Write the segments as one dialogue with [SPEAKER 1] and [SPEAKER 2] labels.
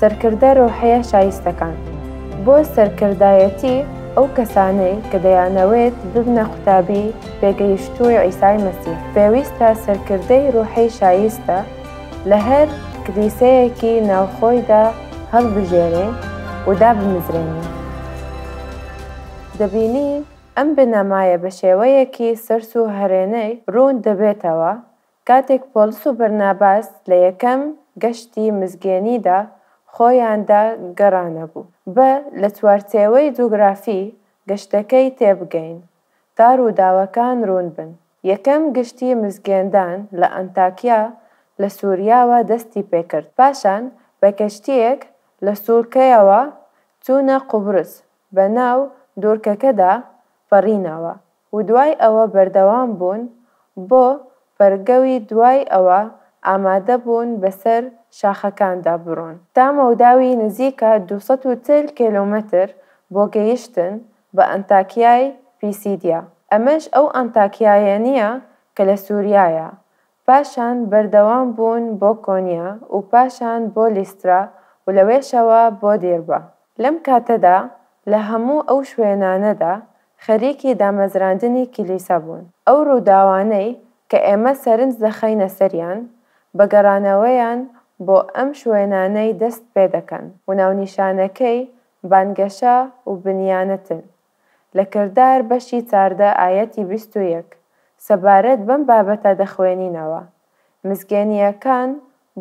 [SPEAKER 1] سەرکردە رۆحیە شایستەکان بۆ سەرکردایەتی ئەو کەسانەی کە دەیانەوێت ببنە قوتابی پێگەیشتووی عیسای مەسیح پێویستە سەرکردەی روحی شایستە لە هەر کلیسەیەکی ناوخۆیدا هەڵبژێرین و دابمزرێنین. دەبینین ئەم بنەمایە بە شێوەیەکی سەرسووهرێنەی روون دەبێتەوە کاتێک پۆلس و بەرناباس لە یەکەم گەشتی مزگێنیدا خۆیاندا گەڕانەبوو، با لە چوارچێوەی جوگرافی گەشتەکەی تێبگەین تا ڕووداوەکان ڕوون بن. یەکەم گشتی مزگێندان لە ئەنتاکیا لە سوریاوە دەستی پێکرد، پاشان بە کەشتییەک لە سوڵکەیەوە چوونە قوبرس، بە ناو دوڕکەکەدا پەڕینەوە، ودوای ئەوە بەردەوام بوون بۆ بەرگەوی دوای ئەوە ئامادە بوون بەسەر شاخەکاندا بڕۆن تا مەوداوی نزیکە دوو سەد و چل کێلۆمەتر بۆ گەیشتن بە ئەنتاکیای پیسیدیا ئەمەش ئەو ئەنتاکیایەنیە کە لە سوریایە پاشان بەردەوام بوون بۆ کۆنیا و پاشان بۆ لیسترا و لەوێشەوە بۆ دیربە. لەم کاتەدا لە هەموو ئەو شوێنانەدا خەریکی دامەزراندنی کلیسا بوون. ئەو ڕووداوانەی کە ئێمە سەرنج دەخەینە سەریان، بە گەڕانەوەیان بۆ ئەم شوێنانەی دەست پێدەکەن و ناونیشانەکەی بانگەشە و بنیانتن. لە کردار بەشی چاردە ئایەتی بیست و یەک سەبارەت بەم بابەتە دەخوێنینەوە، مسگێنییەکان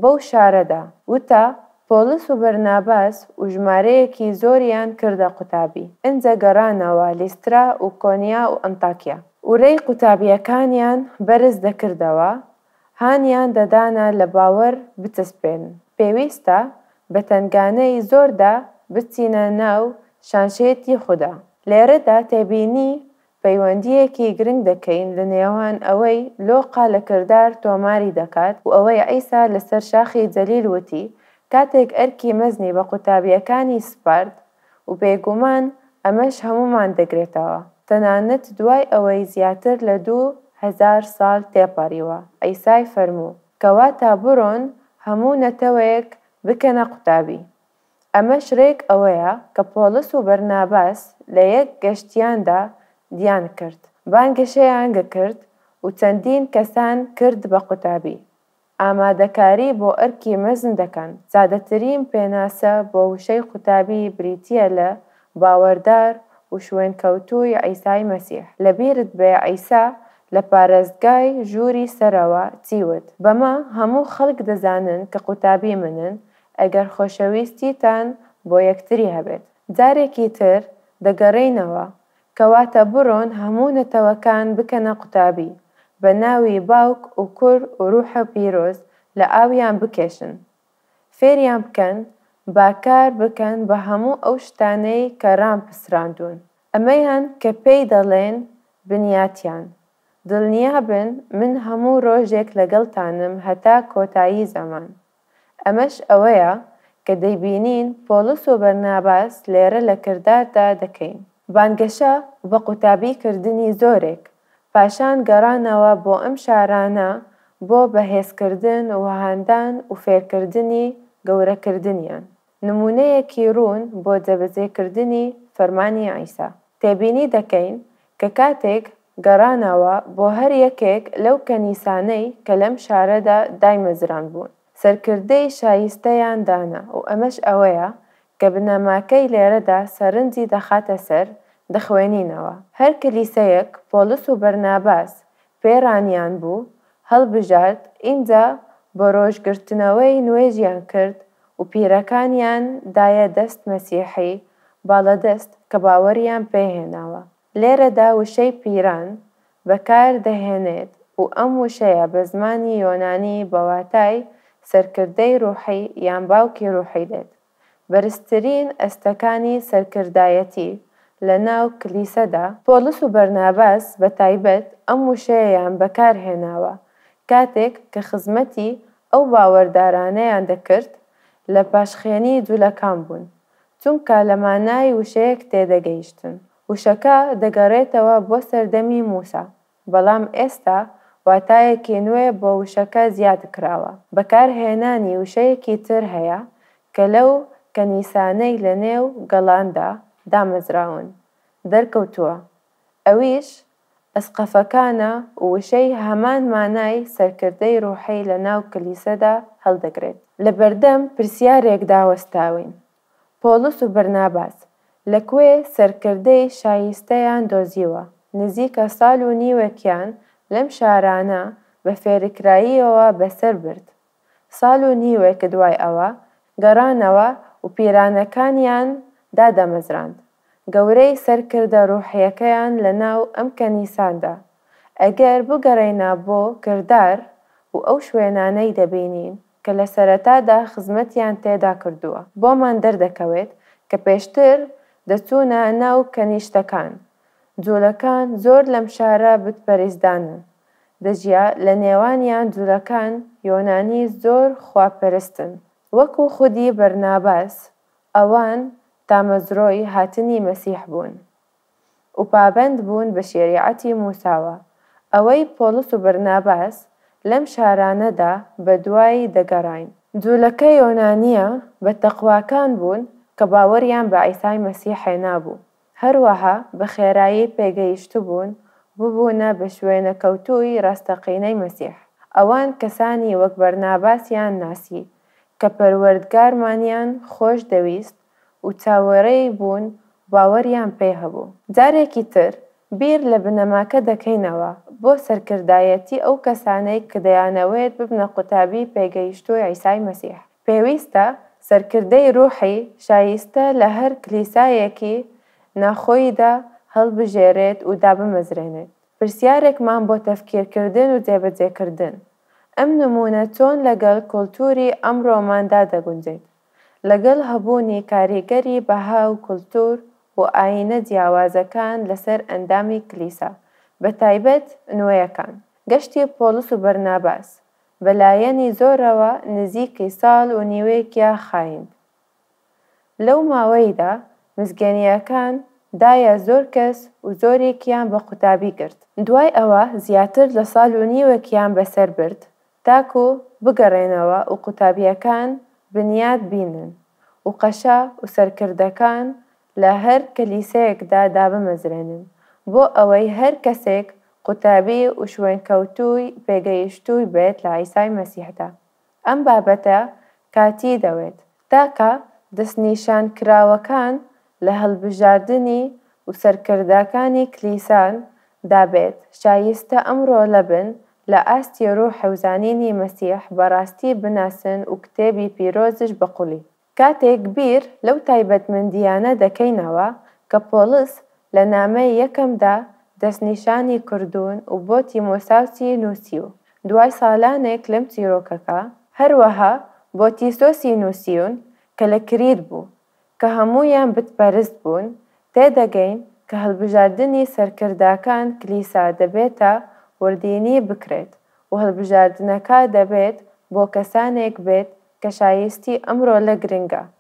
[SPEAKER 1] بەو شارەدا وتە پۆڵس و بەرناباس و ژمارەیەکی زۆریان کردە قوتابی، ئنجە گەڕانەوە لیسترا و کۆنیا و ئەنتاکیا و رێی قوتابییەکانیان بەرز دەکردەوە هانیان دەدانە لە باوەر بچەسپێن، پێویستە بە تەنگانەی زۆردا بچینە ناو شانشێتی خودا. لێرەدا تێبینی پەیوەندییەکی گرنگ دەکەین لە نێوان ئەوەی لۆقا لە کردار تۆماری دەکات و ئەوەی عیسا لەسەر شاخی جەلیل وتی کاتێک ئەرکی مەزنی بە قوتابییەکانی سپارد، و بێگومان ئەمەش هەموومان دەگرێتەوە، تەنانەت دوای ئەوەی زیاتر لە دوو هەزار سال تێپەریوە، عیسای فەرموو، کەواتە برۆن هەموو نەتەوەیەک بکەنە قوتابی. ئەمەش رێک ئەوەیە کە پۆڵس و بەرناباس لە یەک گەشتیاندا دیان کرد، بانگەشەیان گکرد و چەندین کەسان کرد بە قوتابی. ئامادەکاری بۆ ئەرکی مەزن دەکەن. سادەترین پێناسە بۆ وشەی قوتابی بریتییە لە باوەردار و شوێنکەوتووی عیسای مەسیح. لەبیرت بێ عیسا لە پارێزگای ژووری سەرەوە چی وت، بەمە هەموو خەڵک دەزانن کە قوتابی منن ئەگەر خۆشەویستیتان بۆ یەکتری هەبێت. جارێکی تر دەگەڕێینەوە کەواتە بڕۆن هەموو نەتەوەکان بکەنە قوتابی، بە ناوی باوک و کوڕ و روحە پیرۆز لە ئاویان بکێشن. فێریان بکەن با کار بکەن بە هەموو ئەو شتانەی کە رامپسراندوون. ئەمەیان کە پێی دەڵێن بنیاتیان. دڵنیابن من هەموو رۆژێک لەگەڵتانم هەتا کۆتایی زەمان. ئەمەش ئەوەیە کە دەیبینین پۆڵس و بەرناباس لێرە لە کرداردا دەکەین. بانگەشە بە قوتابی کردنی زۆرێک، پاشان گەڕانەوە بۆ ئەم شارانە بۆ بەهێزکردن و هاندان و فێرکردنی گەورەکردنیان. نموونەیەکی ڕوون بۆ جێبەجێکردنی فەرمانی عیسا تێبینی دەکەین کە کاتێک گەڕانەوە بۆ هەر یەکێک لەو کەنیسانەی کە لەم شارەدا دایمەزراندبوون، سەرکردەی شایستەیان دانا و ئەمەش ئەوەیە کە بنەماکەی لێرەدا سەرنجی دەخاتە سەر دخوێنینەوە، هەر کلیسەیەک پۆڵس و بەرناباس فێرانیان بوو هەڵبژارد ئینجا بەڕۆژ گرتنەوەی نوێژیان کرد و پیرەکانیان دایە دەست مەسیحی باڵەدەست کە باوەڕیان پێهێناوە لێرەدا وشەی پیران بەکار دەهێنێت و ئەم وشەیە بە زمانی یۆنانی بە واتای سەرکردەی ڕوحی یان باوکی ڕوحی دێت. بەرزترین ئەستەکانی سەرکردایەتی لە ناو کلیسەدا. پۆڵس و بەرناباس بە تایبەت ئەم وشەیەیان بەکار هێناوە کاتێک کە خزمەتی ئەو باوەردارانەیان دەکرد لە پاشخێنی جولەکان بوون، چونکە لە مانای وشەیەک تێدەگەیشتن. وشەکە دەگەڕێتەوە بۆ سەردەمی موسا، بەڵام ئێستا واتایەکی نوێ بۆ وشەکە زیاد کراوە، بەکارهێنانی وشەیەکی تر هەیە کە لەو کەنیسانەی لە نێو گەڵاندا دامەزراون دەرکەوتووە، ئەویش ئەسقەفەکانە و وشەی هەمان مانای سەرکردەی ڕوحی لە ناو کلیسەدا هەڵدەگرێت. لە بەردەم پرسیارێکدا وەستاوین، پۆڵس و بەرناباس لە کوێ سەرکردەی شایستەیان دۆزیوە؟ نزیکە ساڵ و نیوێکیان لەم شارانە بە فێرکراییەوە بەسەر برد. ساڵ و نیوێک دوای ئەوە گەڕانەوە و پیرانەکانیان دادەمەزراند. گەورەی سەرکردە ڕووحییەکەیان لەناو ئەم کەنیساندا. ئەگەر بگەڕێینە بۆ کردار و ئەو شوێنانەی دەبینین، کە لە سەرەتادا خزمەتیان تێدا کردووە، بۆمان دەردەکەوێت کە پێشتر دەچوونە ناو کەنیشتەکان، جوولەکان زۆر لەم شارە بتپەریستدانن، دەژیا، لە نێوانیان جوولەکان یۆنانی زۆر خوا پەرستن، وەکو خودی بەرناباس، ئەوان تامەزرۆی هاتنی مەسیح بوون. و پابەند بوون بە شێریعەتی موساوا، ئەوەی پۆڵس و بەرناباس لەم شارانەدا بە دوای دەگەڕاین. جوولەکە یۆنانییە بە تەقواکان بوون کە باوەڕیان بە عیسای مەسیح هێنابوو، هەروەها بە خێرایی پێگەیشتبوون و ببوونە بە شوێنەکەوتووی ڕاستەقینەی مەسیح. ئەوان کەسانی وەک بەرناباسیان ناسی کە پەروەردگارمانیان خۆش دەویست و چاوەرێی بوون و باوەریان پێ هەبوو. جارێکی تر بیر لە بنەماکە دەکەینەوە بۆ سەرکردایەتی ئەو کەسانەی کە دەیانەوێت ببنە قوتابی پێگەیشتووی عیسای مەسیح. پێویستە سەرکردەی ڕووحی شایستە لە هەر کلیسایەکی ناخۆییدا هەڵبژێرێت و دابمەزرێنێت. پرسیارێکمان بۆ تەفکیرکردن و جێبەجێکردن، ئەم نموونە چۆن لەگەڵ کولتووری ئەمڕۆماندا دەگونجێت؟ لەگەڵ هەبوونی کاریگەری بەها و کولتوور و ئایینە جیاوازەکان لەسەر ئەندامی کلیسا، بەتایبەت نوێیەکان، گەشتی پۆڵس و بەرناباس بە لایەنی زۆرەوە نزیکی ساڵ و نیوێکیا خایند. لەو ماوەیدا مزگێنییەکان دایە زۆر کەس و زۆریکیان بە قوتابی گرت. دوای ئەوە زیاتر لە ساڵ و نیوێکیان بەسەر برد تاکو بگەڕێنەوە و قوتابیەکان بنیات بینن و قەشە و سەرکردەکان لە هەر کەلیسەیەکدا دابمەزرێنن بۆ ئەوەی هەر کەسێک قوتابی و شوێنکەوتووی پێگەیشتووی بێت لە عیسای مەسیحدا ئەم بابەتە کاتی دەوێت تاکە دەستنیشانکراوەکان لە هەڵبژاردنی و سەرکردەکانی کلیسان دا بێت، شایستە ئەمڕۆ لەبن لە ئاستی ڕوح و زانینی مەسیح بە ڕاستی بناسن و کتێبی پیرۆزش بە قوڵی. کاتێک بیر لەو تایبەتمەندییانە دەکەینەوە کە پۆڵس لە نامەی یەکەمدا دەستنیشانی کردوون و بۆ تیمۆساوسی نووسیوو، دوای سالانێک لەم چیرۆکەکە، هەروەها بۆ تیسۆسی نووسیون کە لە کریت بوو، کە هەموویان بتپەرست بوون، تێدەگەین کە هەلبژاردنی سەرکرداکان کلیسا دەبێتە وردینی بکرێت و هەلبژاردنەکە دەبێت بۆ کەسانێک بێت کە شایستی ئەم رۆلە گرنگە.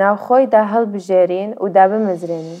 [SPEAKER 1] ناوخۆی داهەڵبژێرین و دابمەزرێنین.